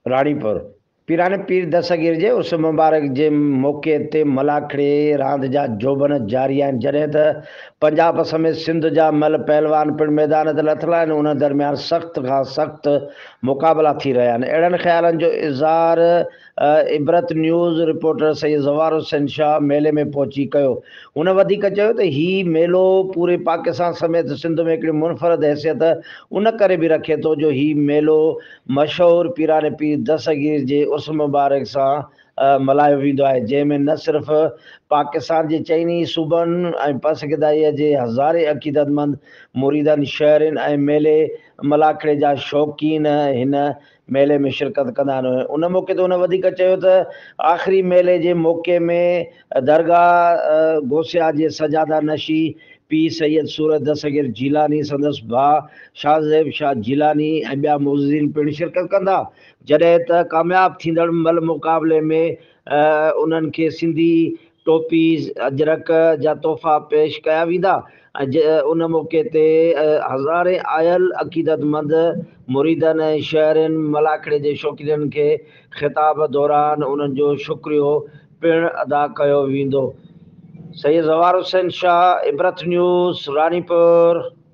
راڻيپور، پيراڻي پير دستگير جي عرس مبارڪ جي موقعي تي ملاکڙي راند جا جوڀن جاري آهن جڏهن ته پنجاب سميت سنڌ جا مئل پهلوان پڻ ميدان تي لٿل آهن انهن درميان سخت کان سخت مقابلا ٿي رهيا آهن اهڙن خيالن جو اظهار عبرت نيوز رپورٽر سيد زوار حسين شاهه ميلي ۾ پهچي ڪيو. هن وڌيڪ چيو ته هي ميلو پوري پاڪستان سميت سنڌ ۾ هڪڙي منفرد حيثيت ان ڪري به رکي ٿو جو هي ميلو مشهور پيران پير دستگير جي عرس مبارڪ سان ملهايو ويندو آهي جنهن ۾ نه صرف پاڪستان جي چئن ئي صوبن ۽ پسگدائيء جي هزارين عقيدتمند مريدن شهرين ۽ ميلي ملاکڙي جا شوقين هن ميلي ۾ شرڪت ڪندا آهن ان موقعي تي هن وڌيڪ چيو ته آخري ميلي جي موقعي ۾ درگاهه غوثيه جي سجاده نشي پير سيد صورت دستگير جيلاني سندس ڀاء شاهه زيب شاهه جيلاني ۽ ٻيا معززين پڻ شرڪت ڪندا جڏهن ته ڪامياب ٿيندڙ ملهه مقابلي ۾ انهن کي سنڌي ٽوپيز، اجرڪ جا تحفا پيش ڪيا ويندا ۽ ان موقعي تي هزارين آيل عقيدتمند مريدن ۽ شهرين ملاکڙي جي شوقينن کي خطاب دوران انهن جو شڪريو پڻ ادا ڪيو ويندو سيد زوار حسين شاهه عبرت نيوز راڻيپور.